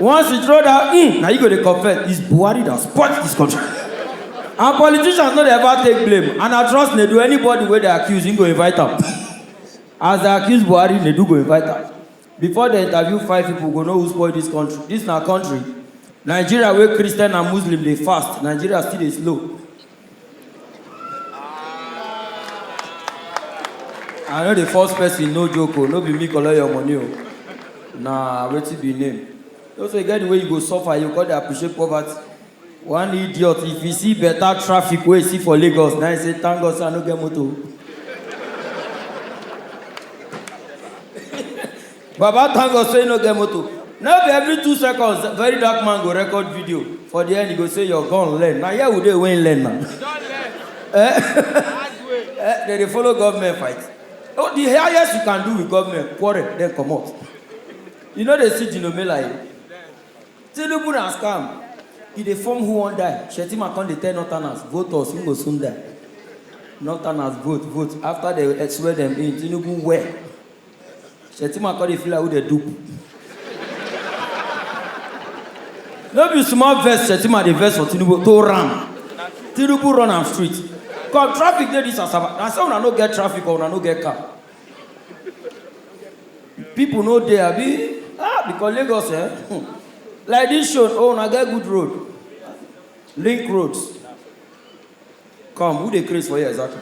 Once you throw that, mm, now you go to confess. It's Buhari that spoils this country. and politicians no dey ever take blame. And I trust they do anybody where they accuse, him go invite them. As they accuse Buhari, they do go invite them. Before they interview five people, go know who spoil this country. This na country. Nigeria where Christian and Muslim they fast. Nigeria still dey slow. I know the first person no joke o, no be me collect your money o. Na wetin be name? No say e get the way you go suffer, you go come dey appreciate poverty. One idiot, if you see better traffic wey you see for Lagos, na you say thank God say I no get motor o. Baba thank God say no get motor. No be every two seconds very dark man go record video for the end he go say your gun learn. Na here we dey wey him learn na. Eh? Eh, Dem dey follow government fight. Oh, the highest you can do with government quarrel then comot. You no dey see Jinomela here. Tinubu na scam. He dey form who wan die. Shettima come dey tell northerners vote us we go soon die. Northerners vote vote after dem swear dem in Tinubu well. Shettima come dey feel like who dey dupe. No be small vex Shettima dey vex for Tinubu to ram. Tinubu run am street. Cause traffic dey this Asaba. Na say una no get traffic or una no get car. People no dey abi? Ah, because Lagos eh, hmm. like this show, oh una get good road. Link roads. Come, who dey craze for here exactly?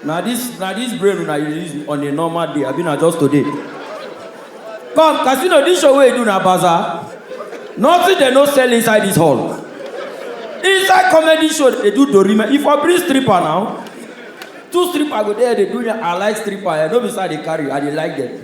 Na this na this brain una you dey use on a normal day abi na just today? Come, casino this show wey you do na bazaar? Nothing dem no sell inside this hall. Inside comedy show dey do dorime, if I bring stripper now, two stripper go there dey do me, I like stripper, eh, no be say I dey carry, I dey like them.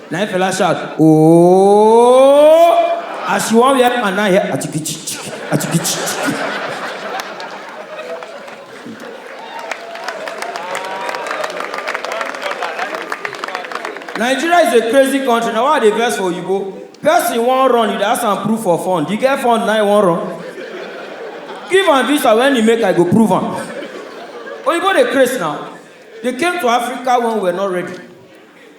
Na him Fela shout, oh! As she wan wear pant, na hear atikichiki, atikichiki. Nigeria is a crazy country. Na why I dey vex for oyibo. Person wan run, you dey ask am proof for fund. You get fund, na him wan run. Give am visa when he make, I go prove am. Oyibo dey craze now. They came to Africa when we were not ready.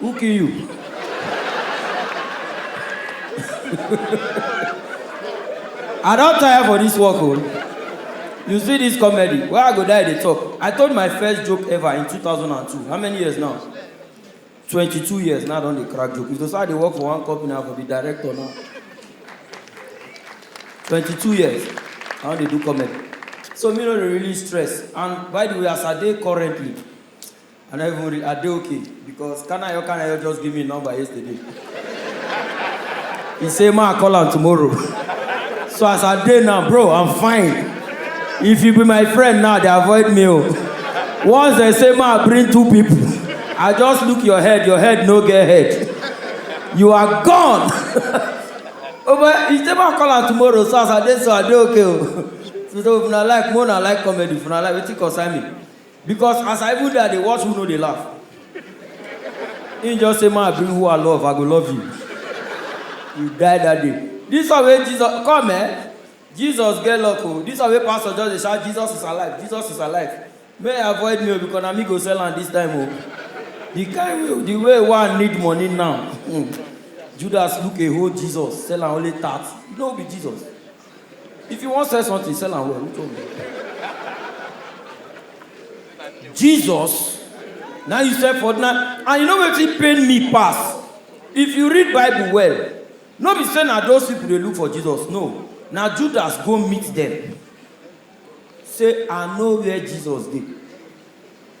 Who kill you? I don tire for this work o. You see this comedy wey I go die dey talk. I told my first joke ever in 2002. How many years now? 22 years now I don dey crack joke. If to say I dey work for one company, I for be director now. 22 years I don dey do comedy. So me no dey really stress and by the way as I dey currently, I no even read, I dey okay because Kanayo Kanayo just give me him number yesterday. He say ma I call am tomorrow. So as I dey now, bro, I'm fine. If you be my friend now, dey avoid me o. Once dem say ma I bring two people, I just look your head, your head no get head. You are gone. Oh boy, he say ma I call am tomorrow, so as I dey so I dey okay o. So if una like, make una like comedy, if una like wetin concern me. Because as I even dey I dey watch who no dey laugh. Him just say ma bring who I love I go love you. You die that day. This one wey Jesus come eh Jesus get luck oh this one wey pastor just dey shout Jesus is alive Jesus is alive make e avoid me oh because na me go sell am this time oh the kind way the way wey I need money now Judas look a whole Jesus sell am only thirty no be Jesus. If you wan sell something, sell am well. Who told me? Jesus, now you sell for now, and you know wetin pain me pass. If you read Bible well, no be say na those people dey look for Jesus. No, na Judas go meet them. Say I know where Jesus dey.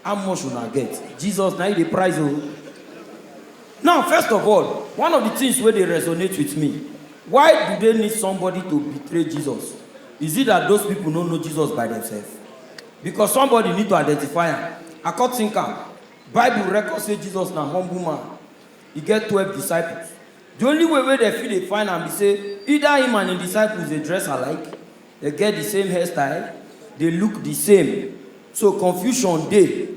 How much una get? Jesus na im dey price o. Now first of all, one of the things wey dey resonate with me, why do they need somebody to betray Jesus? Is it that those people no know Jesus by themselves? Because somebody need to identify am. I come think am, Bible record say Jesus na humble man, e get twelve disciples. The only way wey dem fit dey find am be say either him and him disciples dey dress alike, Dem get the same hairstyle, dey look the same, so confusion dey.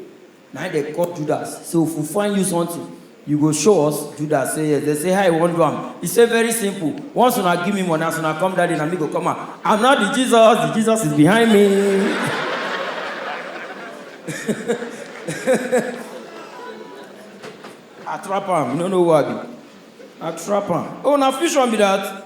Na im dem call Judas, say if we find you something, you go show us? Judas say yes. Dem say, How you wan do am? He say, Very simple, once una give me money, as una come that day, na me go come out. I'm not the Jesus, the Jesus is behind me. I trap am, you no know who I be. I trap am. Oh, na fusion be that?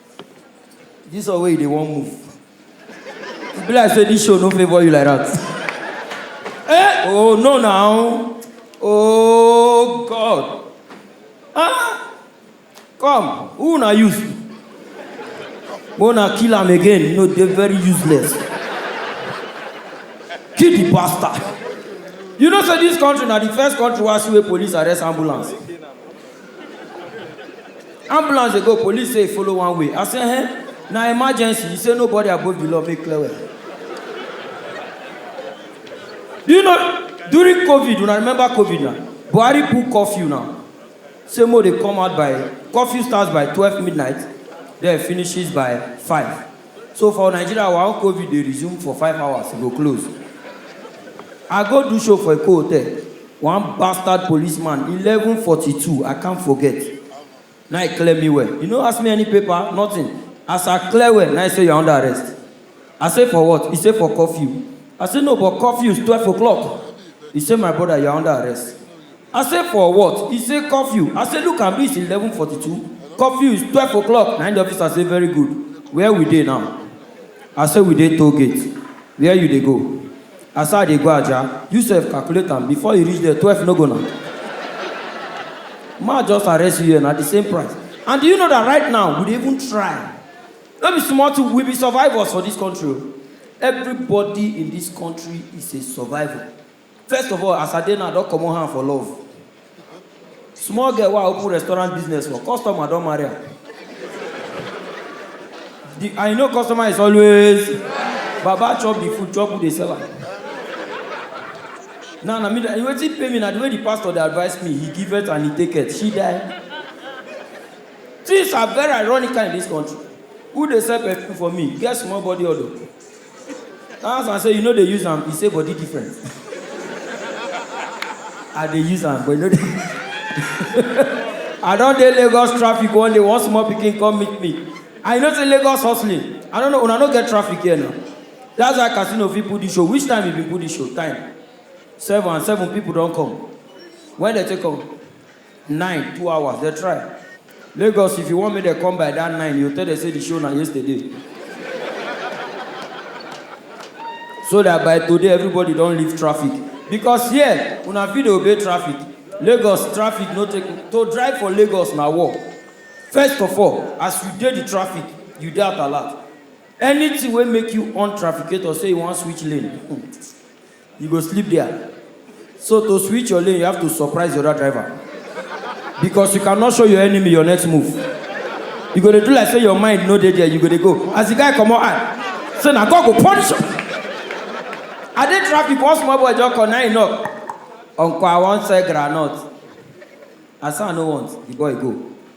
This one wey you dey wan move. E be like say this show no favour you like that. Eh! Oh no now. Oh God. Ah! Come, who una use? Make una kill am again, you know dey very useless. Kill the bastard. You know say this country na the first country wey I see wey police arrest ambulance. ambulance dey go police say e follow one way i say eh na emergency he say nobody above the law make clear well do you know during covid una remember covid na buhari put curfew now say mo dey come out by curfew starts by twelve midnight then finishes by five So for Nigeria our own covid dey resume for five hours e go close. I go do show for Eko hotel, one bastard policeman eleven forty two I can't forget na im clear me well, e no ask me any paper nothing as I clear well na im say you are under arrest I say for what? E say for curfew I say no but curfew is twelve o clock e say my brother you are under arrest. I say for what? He say curfew. I say look am reach eleven forty two, curfew is twelve o'clock na im the officer say very good, where we dey now? I say we dey toll gate, where you dey go? I say I dey go Ajah, you sef calculate am before you reach there twelve no go na? Make I just arrest you here na the same price and do you know that right now we dey even try, no be small thing we be survivors for this country o, everybody in this country is a survivor. First of all, as I dey now, I don comot hand for love. Small girl wey I open restaurant business for, customer don marry am. The, and you know customer is always, Baba chop the food, chop who dey sell am. Now na me, dey- wetin pay me na the way the pastor dey advise me, he give it and he take it, she die. Things are very ironical in this country. Who dey sell perfume for me? Get small body odor. I ask am say you no dey use am, e say body different. I dey use am but e no dey I don dey Lagos traffic one day, one small pikin come meet me. And you know say Lagos hustling, I no know, una no get traffic here na. That's why Casino fit put this show, which time e been put this show? Time? Seven and seven people don come. When dem take come? Nine, two hours, dem try. Lagos, if you want make dem come by that nine, you tell dem say the show na yesterday. so that by today everybody don leave traffic because here una fit dey obey traffic lagos traffic no take to drive for lagos na war first of all as you dey the traffic you dey at alert anything wey make you on trafficator say you wan switch lane You go sleep there. So to switch your lane, you have to surprise the other driver. Because you cannot show your enemy your next move. You go dey do like say your mind no dey there, you go dey go. As the guy comot eye, say na God go punish you. I dey traffic, one small boy just come, na him knock. Uncle, I wan sell groundnut. I say I no want, the boy go.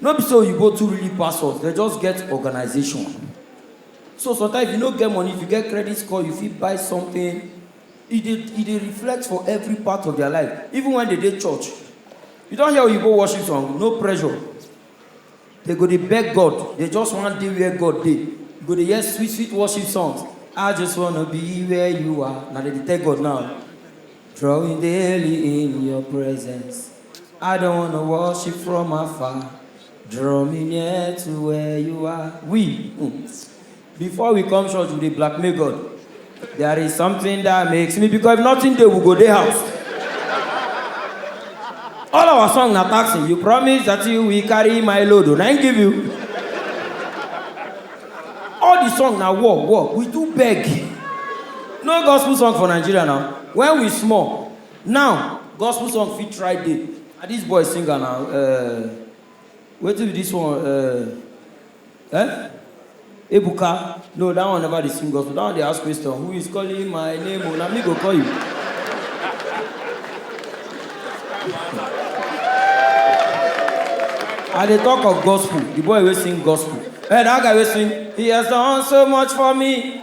No be say oyibo too really pass us, dem just get organization. So sometimes if you no get money, if you get credit score, you fit buy something. E dey e dey reflect for every part of their life, even when dem dey church. You don hear oyibo worship song? No pressure. Dem go dey beg God, dem just wan dey where God dey. You go dey hear sweet sweet worship songs, I just wanna be where you are, na dem dey tell God now. Drawing daily in your presence. I don't wanna watch you from afar. Draw me near to where you are. We, mm, before we come church, we dey blackmail God. There is something that makes me because if nothing dey, we go dey house. All our song na taxi. You promise that you will carry my load. oh, Na him give you. All the song na war, war. We do beg. No gospel song for Nigeria now. When we small, Now gospel song fit try dey. Na this boy sing am na um wetin be this one um um ebuka no that one never dey sing gospel that one dey ask question who is calling my name o na me go call you. I dey talk of gospel the boy wey sing gospel eh that guy wey sing he has done so much for me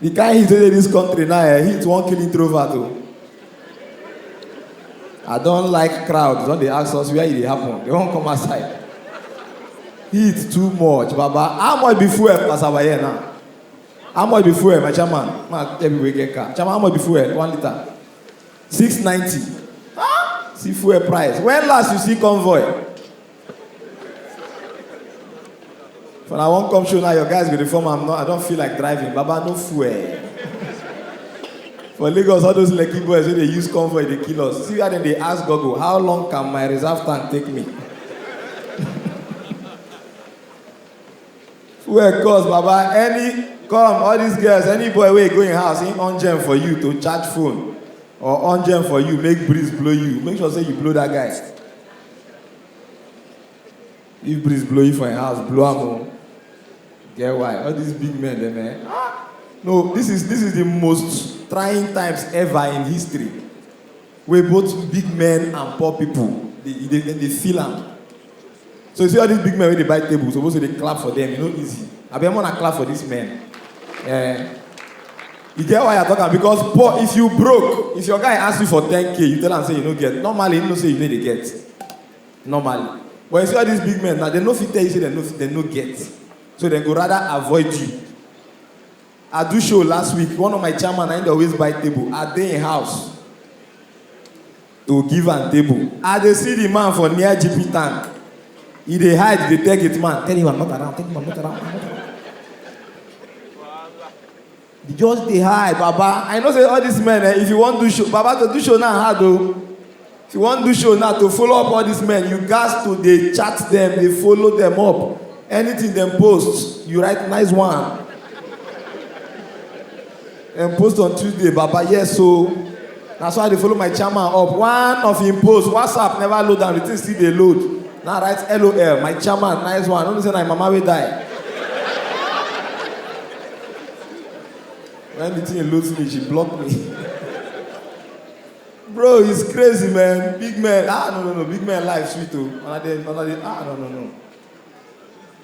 The kind heat wey dey this country now, eh, heat wan kill introvert o. I don like crowd, don dey ask us where e dey happen, they wan come outside. Heat too much, baba. How much be fuel as our here now? How much be fuel, my chairman? Man, tell people wey get car. Chairman, how much be fuel? One liter. Six ninety. Ah, see fuel price. When last you see convoy? When I won't come show now, your guys go dey form am. No, I don't feel like driving. Baba, no fuel. For Lagos, all those lucky boys wey dey use convoy dey kill us. See where dem dey ask Google, how long can my reserve tank take me? Fuel cost, Baba. Any come, all these girls, any boy wey go im house, im on gem for you to charge phone or on gem for you, make breeze blow you. Make sure say you blow that guy. If breeze blow you for your house, blow am o. Get why? All these big men dem eh. No, this is this is the most trying times ever in history wey both big men and poor people dey dey dem dey feel am. So you see all these big men wey dey buy table suppose to dey clap for them, e no easy. Abeg make una clap for these men. Eh. You get why I talk am because poor if you broke, if your guy ask you for 10k, you tell am say you no get. Normally, you know say you no dey get. Normally. But you see all these big men now, they no fit tell you say they no fit, they no get. So they go rather avoid you. I do show last week, one of my chairman, I dey always buy table. I dey in house. to give am table. I dey see the man for near GP tank. He dey hide, dey tell gate man, tell him I'm not around, tell him I'm not around. I'm not around. He just dey hide, Baba. I know say all these men, eh, if you wan do show, Baba to do show now hard o. If you wan do show now to follow up all these men, you gats to dey chat them, dey follow them up. Anything dem post, you write nice one. dem post on tuesday baba yes o na so i dey follow my chairman up one of im post whatsapp never load am the thing still dey load na write lol my chairman nice one no know say na im mama wey die when the thing load finish she block me bro it's crazy man big man ah no no no big man life sweet o una dey una dey ah no no no.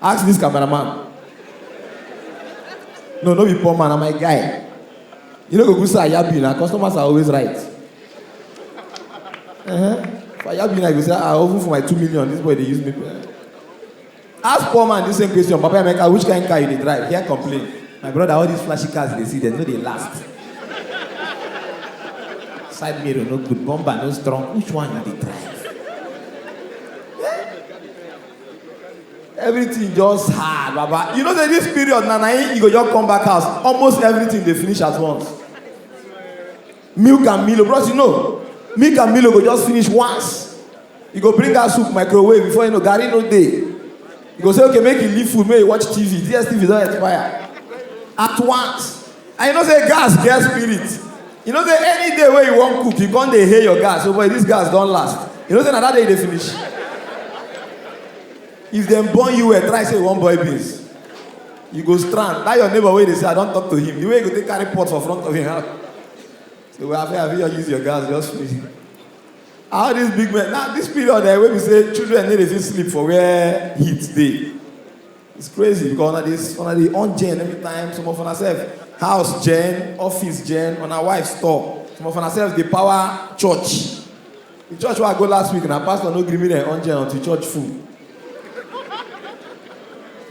Ask this cameraman. No, no be poor man, I'm my guy. You know, go say Ayabi now. Customers are always right. Uh-huh. For Ayabi now, you say, ah, over for my two million. This boy they use me. Ask poor man this same question. Papa Emeka, which kind of car you dey drive? Here complain. My brother, all these flashy cars they see, they know they last. Side mirror no good, bumper no strong. Which one you dey drive? everything just hard baba you know say this period na na him you go just come back house almost everything dey finish at once milk and milo bros you know milk and milo go just finish once you go bring out soup microwave before you know garri no dey you go say okay make you leave food make you watch tv dstv don expire at once And you know say gas get spirit. You know say any day wey you wan cook, you come dey hail your gas. So oh boy, this gas don last. You know say na that day you dey finish. If dem born you well, try say you wan boil beans. You go strand. That your neighbor wey dey say I don talk to him. The way you go take carry pot for front of him house. Say well, I fit have you use your gas just finish. How this big man? Now this period eh, wey be say children no dey fit sleep for where heat dey. It's crazy because una dey una dey on gen every time some of una sef house gen office gen una wife store some of una sef dey power church the church wey I go last week na pastor no gree me dem on gen until church full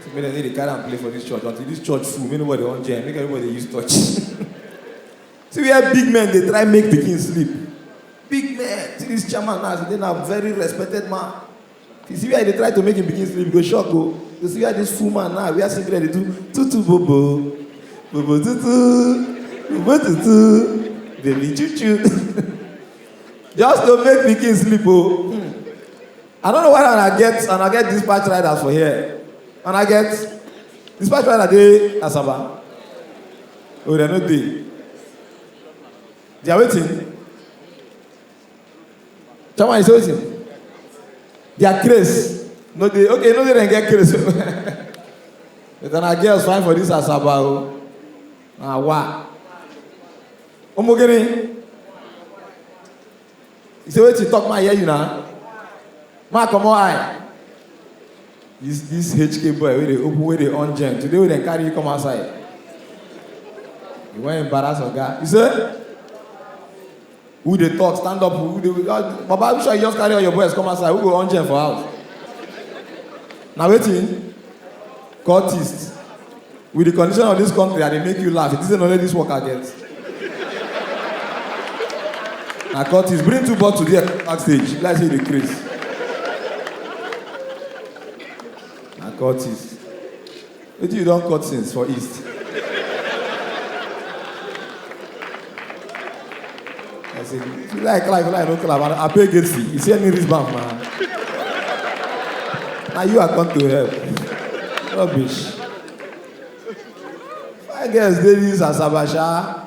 so make dem no dey carry am play for this church until this church full make nobody on gen make everybody dey use touch see where big men dey try make pikin sleep big men see this chairman now as he dey now very respected man You see where he dey try to make him pikin sleep, you go shock o. You see where this full man now wear singlet dey do tutu bobo, bobo tutu, bobo tutu, baby chuchu. Just to make pikin sleep o. Hmm. I don't know why una get una get dispatch riders for here. Una get dispatch rider dey Asaba. Oh, dem no dey. They are waiting. Tell me, say wetin? Their craze. No dey okay, no dey dem get craze. But na girls fine for this Asaba o. Na wa. Omo gini. You say wetin talk my hear you na? Ma comot eye. This this HK boy wey dey open wey dey on gen today wey dem carry you come outside. You wan embarrass oga. You say? Who dey talk? Stand up. Who dey? Uh, Baba, which one you just carry all your boys come outside? Who go on chair for house? Now waiting. Cultist. With the condition of this country, I dey make you laugh. It isn't only this work I get. Na cultist. Bring two bottles there backstage. Let's see the craze. Na cultist. Wetin you don cut since for east? I say, if you like clap, if you like no clap, I abeg get see. You see any wristband, man? Na you I come to help. Rubbish. My girls dey this asabasha.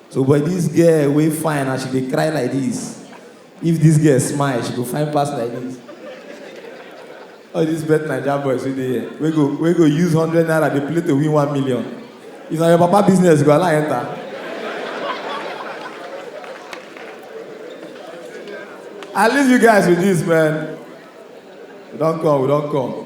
So but this girl wey fine and she dey cry like this. If this girl smile, she go fine pass like this. All these bet Naija boys wey dey here, wey go wey go use hundred naira dey play to win one million. If na your papa business, you go allow enter. I leave you guys with this, man. We don come, we don come.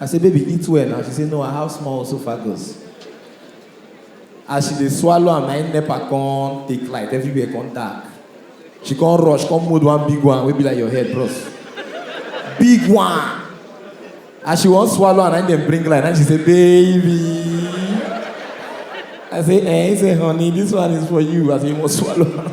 I say baby eat well na she say no I have small esophagus as she dey swallow am na im nepa come take light everywhere come dark she come rush come mold one big one wey be like your head bros big one as she wan swallow am na im dem bring light na she say baby I say eh he say honey this one is for you as he wan swallow am.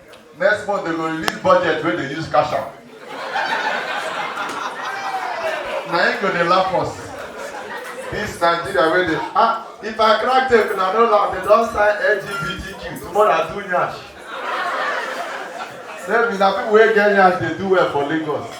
Next month they go release budget wey dey use cash am. Na im go dey laugh us. This Nigeria wey dey ah if I crack tape una no laugh they don sign LGBTQ tomorrow I do nyash. Say me na people wey get nyash dey do well for Lagos.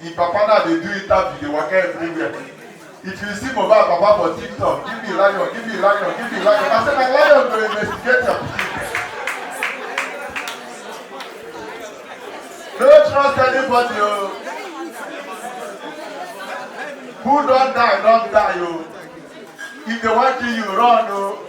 Di papa now dey do interview dey waka everywhere if you see Mohbad papa for tiktok give me lion give me lion give me lion I say na lion go investigate your pikin no trust anybody o oh. who don die don die o oh. if they wan kill you run o. Oh.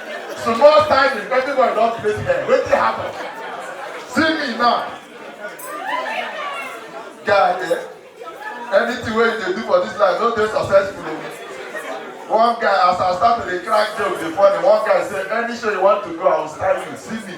Small time if everybody don play there. Wetin happen? See me now. Guy, eh? Anything wey you dey do for this life no dey successful o. One guy as I start to dey crack joke dey funny, one guy say any show you want to go I will style you, see me.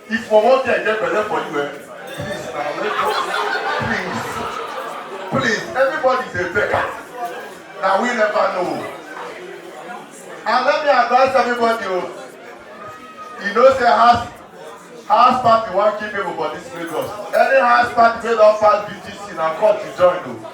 If for one day I get belle for you, eh? Please, na wait for please. Please, everybody is a beggar. Now we never know. And let me advise everybody, oh, you know say house house party wan kill people for this Lagos. Any house party wey don pass BTC na court you join o. Oh.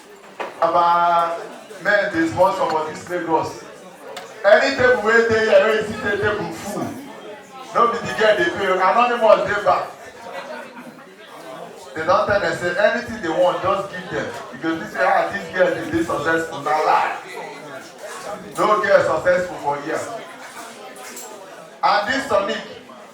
Our men dey sponsor for this Lagos. Any table wey dey here wey you see the table full, no be the girl dey pay, anonymous dey back. They don tell them say anything they want, just give them. You go see say ah this girl dey dey successful, na lie. No girl successful for here. And this tonic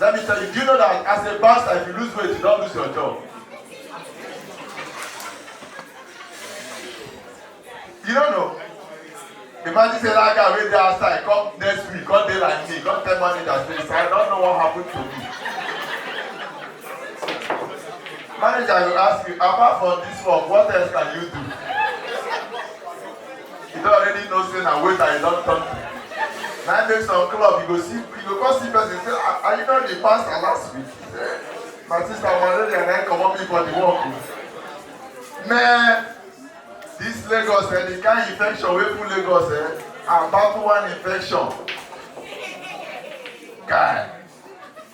Let me tell you, do you know that as a pastor, if you lose weight, you don't lose your job? You don't know. Imagine say that guy wey dey outside come next week come dey like me come tell manager say sir I don't know what happened to me. Manager go ask you apart from this work what else can you do? You don't already know say na waiter you don turn to. Na im make some club you go see you go come see person say ah are you not the pastor last week? He say my sister malaria na im comot me for the work o. Man this Lagos eh the kind infection wey full Lagos eh and battle one infection. Guy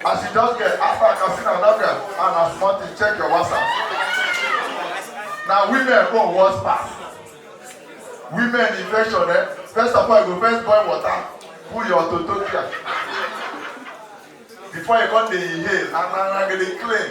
As you just get after Katsina Nabia and as Martin, check your WhatsApp. Now women go worse pass. Women infection, eh? First of all, you go first boil water, cool your toto clear. Before you come dey inhale, and na na go dey clean.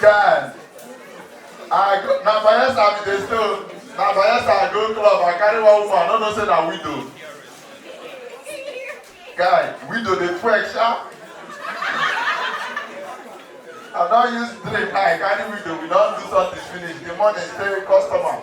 Guy, I go, na Bayelsa I be dey stay o. Na Bayelsa I go club, I carry one woman, I no know say na widow. Guy, widow dey twerk sha. I don use drink, I carry widow, we don do something finish. The morning say customer,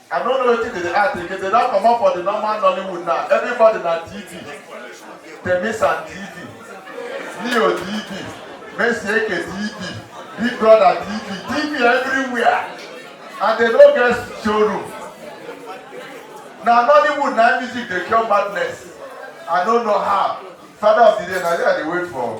I don't know wetin dey dey act again. They don comot for the normal Nollywood now. Everybody na TV. Temis and TV. Leo TV. Messi Eke TV. Big Brother TV. TV everywhere. And they no get showroom. Na Nollywood na music dey cure madness. I no know how. Father of the day na there I dey wait for.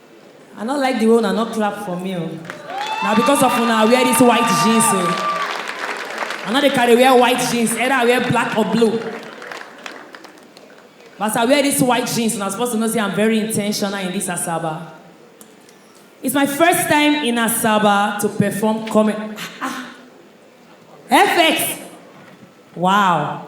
I no like the way una no clap for me o. Na because of una I wear this white jeans o. I no dey carry wear white jeans, either I wear black or blue. But as I wear this white jeans, una suppose to know say I'm very intentional in this Asaba. It's my first time in Asaba to perform comedy. Ah, ah. FX! Wow.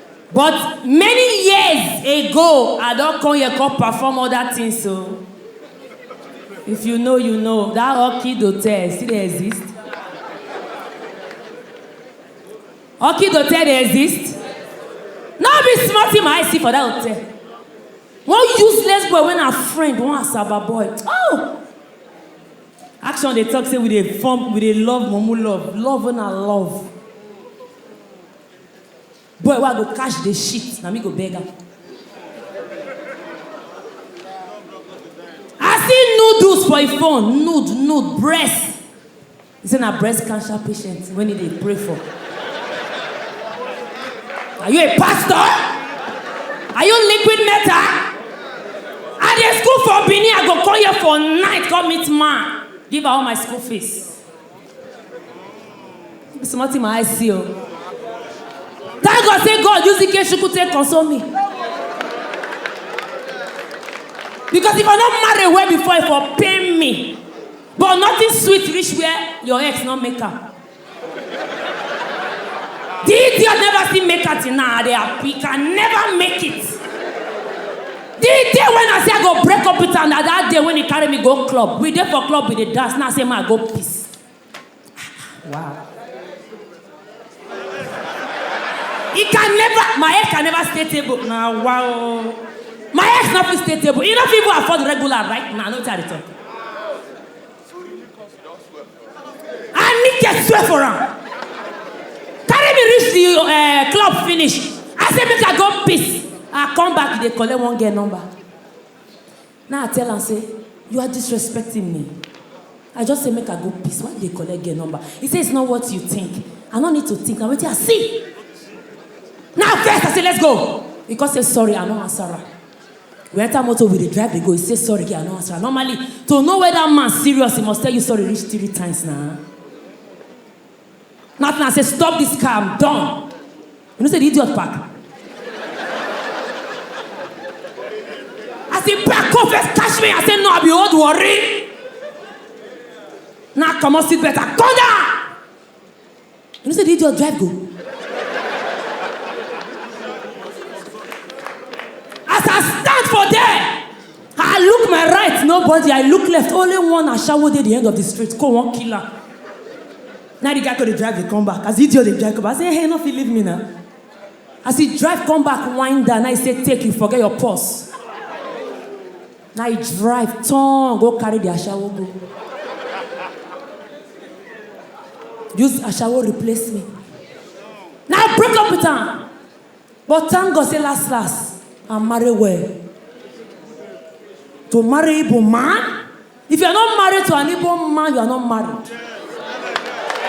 But many years ago, I don come here come perform other things o. If you know, you know. That Orchid Hotel still dey exist? Orchid Hotel dey exist? No be small thing my eye see for that hotel. One useless boy wey na friend, one Asaba boy. Oh! Action dey talk say we dey form, we dey love mumu love. Love wey na love. Boy wey I go catch dey shit na me go beg am. I see noodles for im phone, nude nude, breast. He say na breast cancer patient wen he dey pray for. Are you a pastor? Are you liquid metal? I dey school for Benin I go come here for night come meet man give her all my school fees. be small thing my eye see o thank god say god use ikechukwu take console me because if i no marry well before e for pain me but nothing sweet reach where your ex no make am the idiot never still make am till now i dey happy can never make it The day when I say I go break up with am na that day when he carry me go club. We dey for club, we dey dance. Now I say ma I go piss. Wow. He can never, my ex can never stay table. Now wow. My ex no fit stay table. He no fit even afford regular right now. No tell the talk. I need to swear for him. Carry me reach the uh, club finish. I say make I go piss. I come back, they collect one girl number. Now I tell and say, you are disrespecting me. I just say make I go piss. Why they collect girl number? He say it's not what you think. I don't need to think. I'm waiting. I see. Now first I say let's go. Because say sorry, I no answer her. We enter motor, we dey drive, dey go. He say sorry, girl, I no answer. Normally, to know whether man serious, he must tell you sorry reach three times now. Nothing. I say stop this car, I'm done. You know say the idiot park. As he park, come first catch me. I say no, I be old worry. Now come on, sit better, come down. You know say the idiot drive go. As I stand for there, I look my right, nobody. I look left, only one ashawo dey the end of the street. Go one killer. Now the guy go dey drive dey come back. As the idiot dey drive come back, I say, hey, no fit leave me now. As he drive come back, wind down, I say, take you, forget your purse. Na e drive turn go carry the ashawo go. Use ashawo replace me. Na I break up with am. But thank God say last last, I marry well. To marry Igbo man? If you are not married to an Igbo man, you are not married.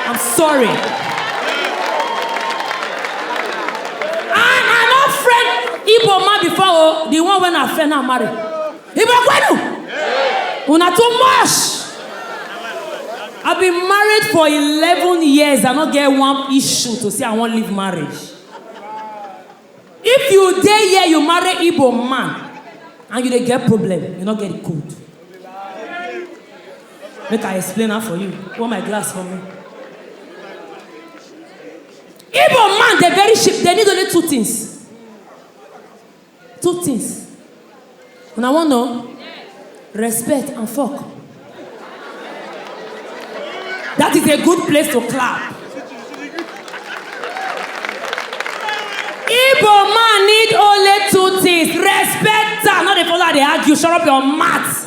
I'm sorry. I I no friend Igbo man before oh, the one when I friend now marry. Igbo kwenu. Una too much. I've been married for 11 years. I don't get one issue to say I won't leave marriage. If you dey here, you marry Igbo man and you dey get problem, you no get the code. Make I explain am for you. Hold my glass for me. Igbo man dey very cheap, dey need only two things. Two things. Una wan know? Respect and fuck. That is a good place to clap. Igbo man need only two things, respect am, no dey follow am dey argue, shut up your mouth.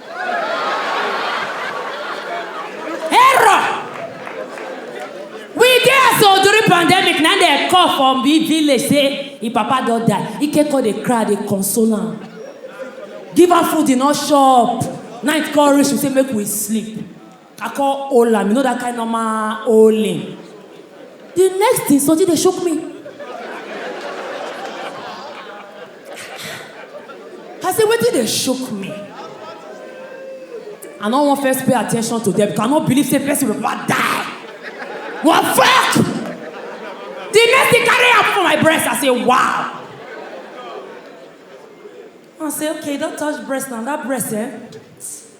Error! We dey as old during pandemic na dey call from big village say im papa don die. Ike come dey cry dey console am. Give am food e no chop. Night come reach we say make we sleep. I come hold am, you know that kind normal holding. The next thing, Soji dey shook me. I say, wetin dey shook me? I no wan first pay attention to them because I no believe say person will ever die. What fuck? The next thing carry am for my breast, I say, wow. I say, okay, don't touch breast now, that breast, eh?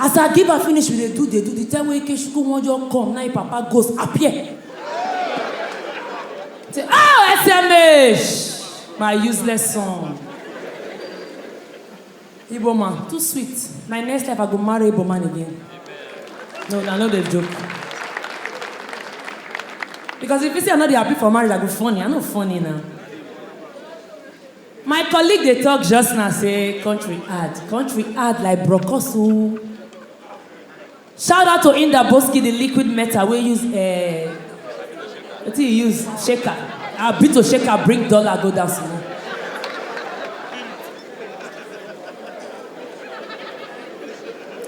As I give am finish we dey do dey do the time wey Ikechukwu wan just come na him papa ghost appear say oh SMH my useless son Igbo man too sweet my next life I go marry Igbo man again no I no dey joke because if you say I no dey happy for marriage I go funny I no funny na. My colleague dey talk just now say country hard, country hard like brokos oo. Shout out to Indaboski the liquid metal wey use eh, wetin you use shaker, ah Bito shaker bring dollar go down small.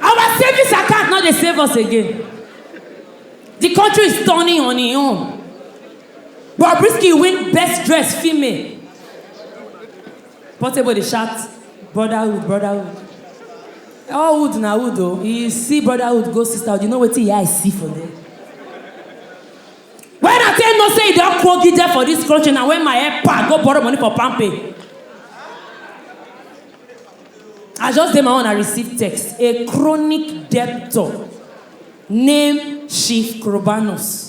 Our savings account no dey save us again, the country is turning on e own. Bobrisky win best dress female. Portable dey shout brotherhood brotherhood. All wood na wood o. You see brotherhood go sisterhood you know wetin your eye see for there. When I take know say you don kwogi there for this country na when my head pa go borrow money for palmpay. I just dey my own I receive text a chronic debtor name Chief Korobanus.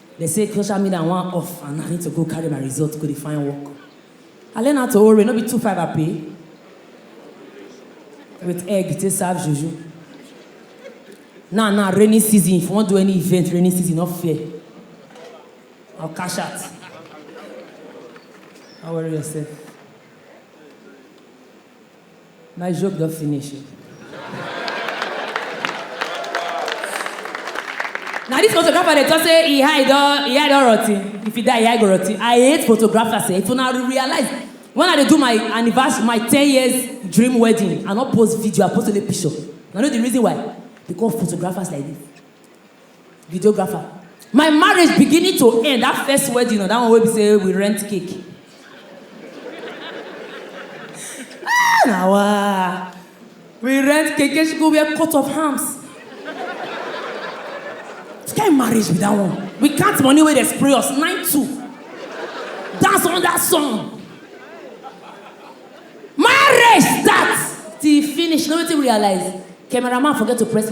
Dem say social media wan off and na need to go carry my result go dey find work. I learn how to ore, no be two five I pay with egg take serve juju. Now now rainy season if you wan do any event rainy season no fear I'll cash out no worry yourself. My joke don finish o. Na this photographer dey talk say e eye don e eye don rotten. If e die, e eye go rotten. I hate photographers eh. If una realize when I dey do my anniversary, my ten years dream wedding, I no post video, I post only picture. Una know the reason why? Because of photographers like this. videographer my marriage beginning to end that first wedding or that one wey be say we rent cake ah na wa we rent cake she go wear coat of arms which kind marriage be that one we count money wey dey spray us nine two dance under sun marriage start till e finish you know wetin we realize cameraman forget to press.